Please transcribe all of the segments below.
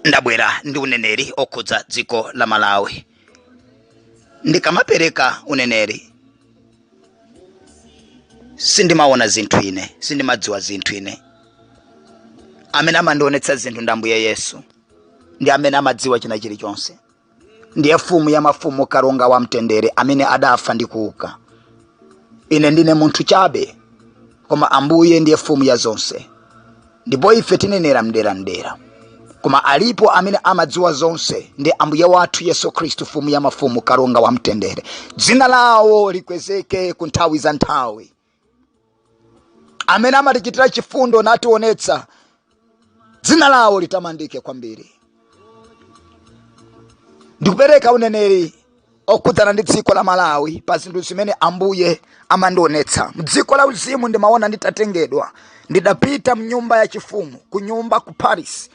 ndabwera ndi uneneri okhudza dziko la malawi ndikamapereka uneneri sindimaona zinthu ine sindimadziwa zinthu ine amene amandionetsa zinthu ndi ambuye yesu ndi amene amadziwa china chilichonse ndiye mfumu ya mafumu kalonga wa mtendere amene adafa ndi kuuka ine ndine munthu chabe koma ambuye ndiye mfumu ya zonse ndipo ife tinenera mdera mdera koma alipo amene amadziwa zonse ndi ambuye wathu yesu khristu mfumu ya mafumu kalonga wa mtendere dzina lawo likwezeke ku nthawi za nthawi amene amatichitira chifundo nationetsa dzina lawo litamandike kwambiri ndikupereka uneneri okhudzana ndi dziko la malawi pa zinthu zimene ambuye amandionetsa mdziko la uzimu ndimaona nditatengedwa ndidapita mnyumba ya chifumu ku nyumba ku palace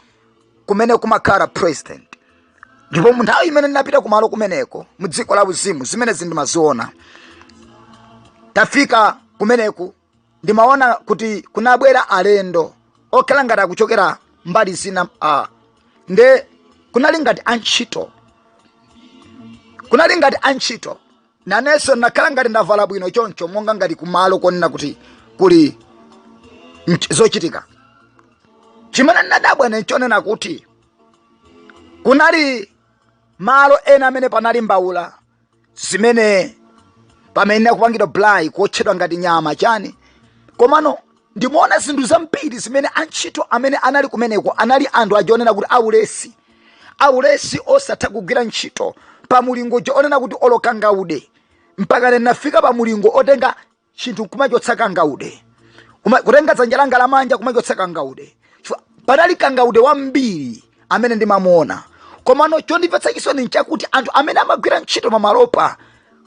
kumene kumakhala president ndipo mu nthawi imene ndinapita kumalo kumeneko mu dziko la uzimu zimenezi ndimaziona tafika kumeneku ndimaona kuti kunabwera alendo okhala ngati akuchokera mbali zina a nde kunali ngati antchito kunali ngati antchito nanenso ndinakhala ngati ndavala bwino choncho monga ngati kumalo konena kuti kuli nt- zochitika chimene ndinadabwa ine nchonena kuti kunali malo ena amene panali mbaula zimene pamene akupangidwa braai kuotchedwa ngati nyama chani komano ndimaona zinthu zambiri zimene antchito amene anali kumeneko anali anthu aja onena kuti aulesi aulesi osatha kugwira ntchito pa mulingo uja onena kuti olo kangaude mpaka ndinafika pa mulingo otenga chinthu kumachotsa kangaude Kuma- kutenga dzanja langa lamanja kumachotsa kangaude Chifukwa panali kangaude wambiri amene ndimamuona komano chondipatsa chisoni nchakuti anthu amene amagwira ntchito mamalopa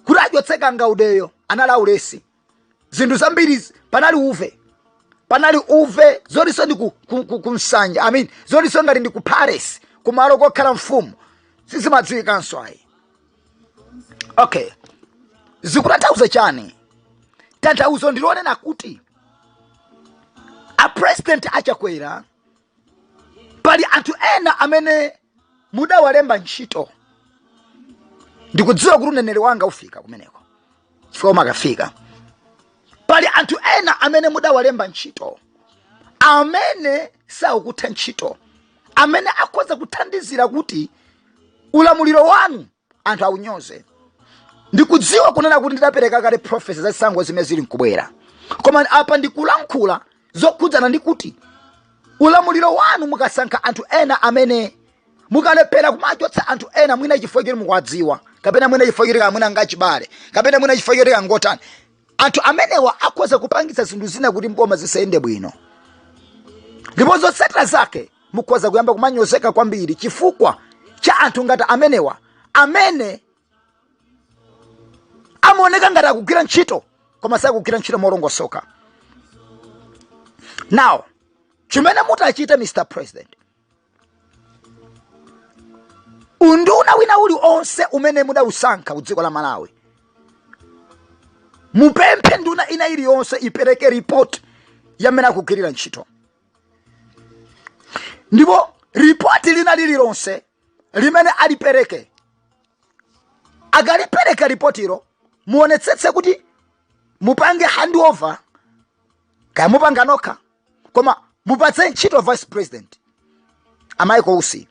kuti achotse kangaudeyo anali aulesi zinthu zambiri panali uve panali uve zoti nso ndi ku, ku, ku, ku msanja i mean zoti nso ngati ndi ku palace kumalo kokhala mfumu sizimadziwikanso ayi okay zikutanthauza chani tanthauzo ndilonena kuti apresident achakwera pali anthu ena amene mudawalemba ntchito ndikudziwa kuti uneneri wanga ufika kumeneko chifukwa umakafika pali anthu ena amene mudawalemba ntchito amene sakutha ntchito amene akhoza kuthandizira kuti ulamuliro wanu anthu aunyoze ndikudziwa kunena kuti ndidapereka kale profesi ya zisankho zimene zili nkubwera koma apa ndikulankhula zokhudzana ndi kuti ulamuliro wanu mukasankha anthu ena amene mukalephera kumachotsa anthu ena mwina chifukwa choti mukuwadziwa kapena mwina chifukwa choti kamwina ngachibale kapena mwina chifukwa choti kangotani anthu amenewa akhoza kupangitsa zinthu zina kuti mboma zisayende bwino ndipo zotsatira zake mukhoza kuyamba kumanyozeka kwambiri chifukwa cha anthu ngati amenewa amene amaoneka ngati akugwira ntchito koma sakugwira ntchito molongosoka now chimene mutachite mr president unduna wina uli onse umene mudausankha ku dziko la malawi mupemphe nduna ina iliyonse ipereke report yamene akugwirira ntchito ndipo ripoti lina lililonse limene alipereke akalipereka ripotilo muonetsetse kuti mupange handover kaya mupanga nokha koma mupatse ntchito vice president a michael usi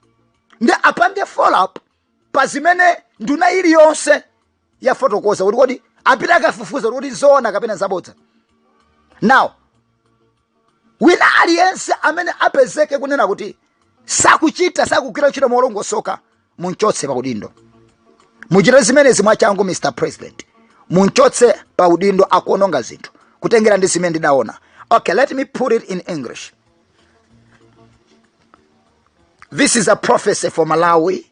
nde apange follow up pa zimene nduna iliyonse yafotokoza kuti kodi apite akafufuze kuti kodi zoona kapena zabodza now wina aliyense amene apezeke kunena kuti sakuchita sakugwira ntchito molongosoka munchotse pa udindo muchite zimenezi mwachangu mr president munchotse pa udindo akuononga zinthu kutengera ndi zimene ndidaona okay let me put it in english this is a prophecy for malawi